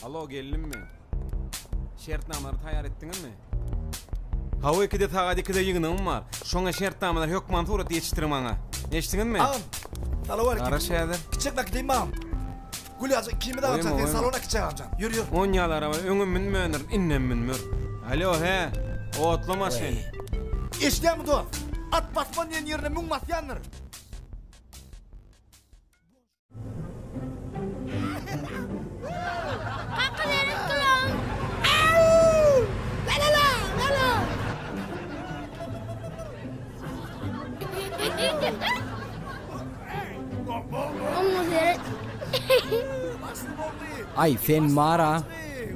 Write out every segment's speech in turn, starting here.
Alo geldim mi? Şertnamalary taýýar etdiňizmi? Hawa ikide sagat ikide ýygnagym bar. Şoňa şertnamalary hökman suratda ýetişdiriň maňa. Eşitdiňizmi? Agam. Salam aleyküm. Garaş häzir. Kiçek bakdym agam. Gulýaja ikimiz agamjan sen salona kiçi agamjan ýür ýür. On ýaly araba öňem münmändirin indem münmer. Alo hä otly maşyn. Eşdýäňmi dost? At basman diýen ýerine müň basýandyr. Ay sen mara.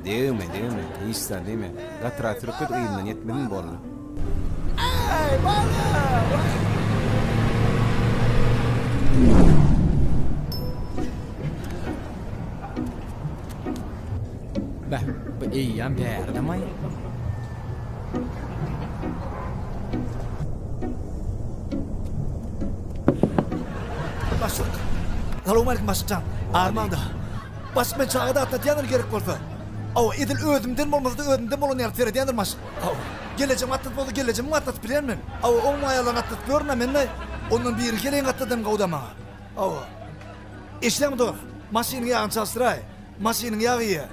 Degme degme. Hiç sen degme. Gatıra sürüp git ýerinden ýetmedin boldy. Beh, bu eýýäm bärdemay. Başlyk. Salam aleyküm başlykjan. Armanda. Başlyk men çaga da atlatýandyr gerek bolsa. Aw, edil özümden bolmasa-da özümden bolan ýaly seredýändir maşyn. Aw, gelejem atlat bolsa gelejemi atlatyp bilerin men. Aw, oň maýalaryny atlatyp görün-ä men-de. Ondan biri geleýin gatladym gowuda maňa. Aw. Eşidäňmi dogry? Maşynyň ýagyny çalşyraý. Maşynyň ýagyýa.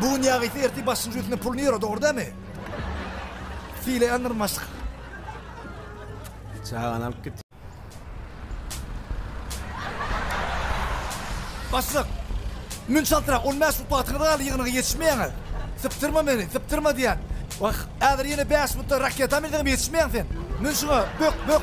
Bu gün ýagysy ertir başyň jüýsüne puluny ýöre dogry dämi? Sile ýandyryn başlyk. Çagany alyp git. Başlyk. Mün çaltrak on bäş upatyňyz galdy ýygnaga ýetişmeýäňiz. Sypdyrma meni, sypdyrma diýän. Wah, häzir ýene bäş mutda raketa minseňem ýetişmeýäň sen. Mün şuňa, bök, bök.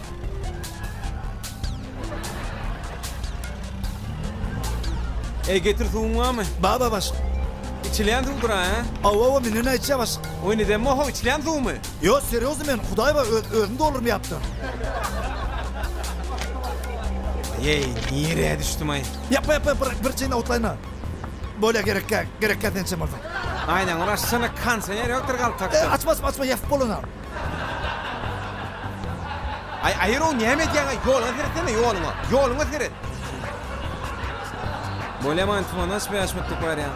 Eý, getir suwuň barmy? Bar, bar, başlyk. Içilýän suwdur, a? Hawa, hawa, menden aýtja, başlyk. Oý, neden moho, içilýän suwmy? Ýok, serýozny men, Hudaý bar, öz, özüm doldurmaýapdyryn. Eý, nirä düşdüm-aý? Ýapma, ýapma, bir, bir çyn awutlaýyn-a. Bolýa, gerekkä, gerekkä sençem bolsa. Aýnaňy bir açsana, kanseýer ýokdur galtakda. E, açma, açma, açma, ýapyp bolan-a. Aý, aýyrow näme edýäň-aý, ýola seretsene, ýoluňa, ýoluňa seret. Bolýamaýyn, tuman açyp ýaşmatdyk barýan.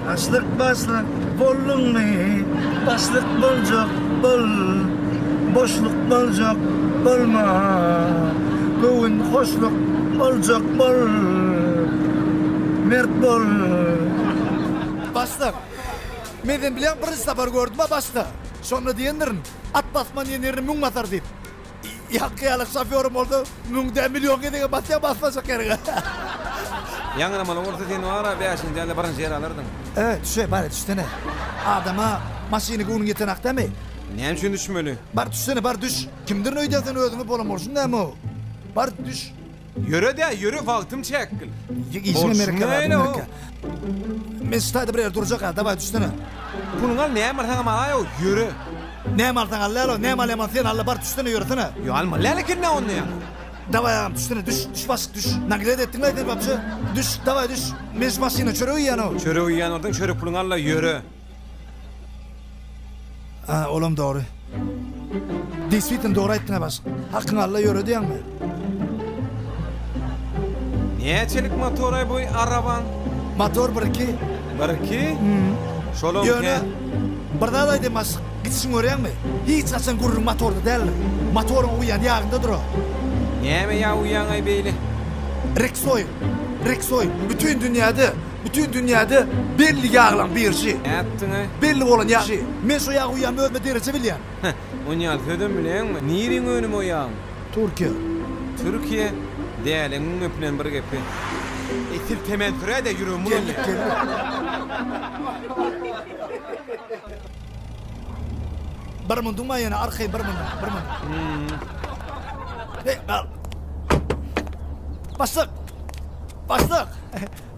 Başlyk, başlyk, bolduňmy? Başlyk boljak, bol. Boşluk boljak, bolma. Göwün hoşluk boljak, bol. Mert bol. Başlyk. Men sen bilen birinji sapar gördüm-ä başda. Şonda diýendirin, At basman diýen ýerini müň basar diýip. Ýaňky ýaly şofýorym bolsa, müň däl, million gezegem basýar basmajak ýeriňe. Ýaňramaly bolsa sen wara bäşinji däl-de birinji ýeri alardyn. Öe, düşe, bar-a düşsene. Adama maşyny göwnüň ýetenok dämi? Näme üçin düşmeli? Bar düşsene, bar düş. Kimdirin öýdýän sen özüňi bolan bolşuň näme-ow? Bar düş. Ýöre-dä, ýöre, wagtym çäkgil. Işiňe mereke bar, mereke. Men şu taýda bir ýerde durjak-a, dawaý düşsene. Puluňy al, näme alsaňam al-aý-ow, ýöre. Näme alsaň al-lalo, näme alýaman sen al-la, bar düşsene, ýöresene. Ýok, almaly-ä ekeni-ä onda ýaňy. Dawaý agam, düşsene, düş, düş başlyk, düş. Naglet etdiň-le sen wapşe. Düş, dawaý düş. Men şu maşynda çörek iýýän-ow. Çörek iýýän bolsaň, çörek puluňy al-la, ýöre. Ha, olam dogry. Deswitin dogry aýtdyň ha baş. Hakyň alla ýöre diýäňmi? Näçelik motory bu arabaň? Motor 1-2. 1-2? Hmm. Şolam Ýöne bir zat aýdaýyn baş. Gitişiň görýäňmi? Hiç haçan gürrüň motorda däldir. Motoryň uýan ýagynda dur o. Näme ýa uýaňaý beýle? Rexoil. Rexoil. Bütün dünýäde Bütin dünýäde belli ýaglaň birji. Nätdiňä? Belli bolan ýagşy. Men şo ýagy uýýan özüme dereje bilýän. Heh, onýal sözem bileňmi? Niriň önümi o ýagyň? Türkiýe. Türkiýe? Däliňiň öpünen bir gepi. Eý sil temeni süräde ýüregim bulanýa. Geldik geldik. Bir munduňma ýene arkaýyn bir mundun bir mundun. Heý gal. Başlyk. Başlyk.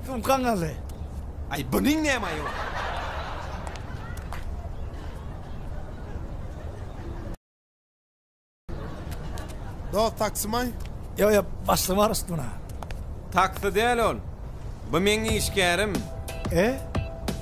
Sumkaň aly. Aý bunyň näme aýy bar. Dost taksymay? Ýok ýok başlygy bar üstüne. Taksi däl ol. Bu meň işgärim. E?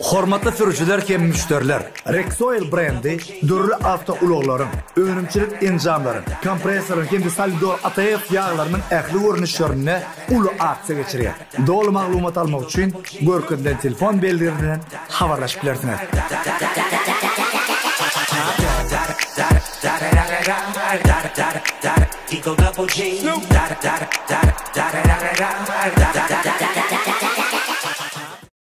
Hormatly sürüjiler hem müşderiler! Rexoil brendi dürli awtoulaglaryň, önümçilik enjamlaryň, kompressoryň hem-de solidol ATF ýaglarynyň ähli görnüşlerinde uly aksiýa geçirýär. Doly maglumat almak üçin görkezilen telefon belgilerinden habarlaşyp bilersiňiz.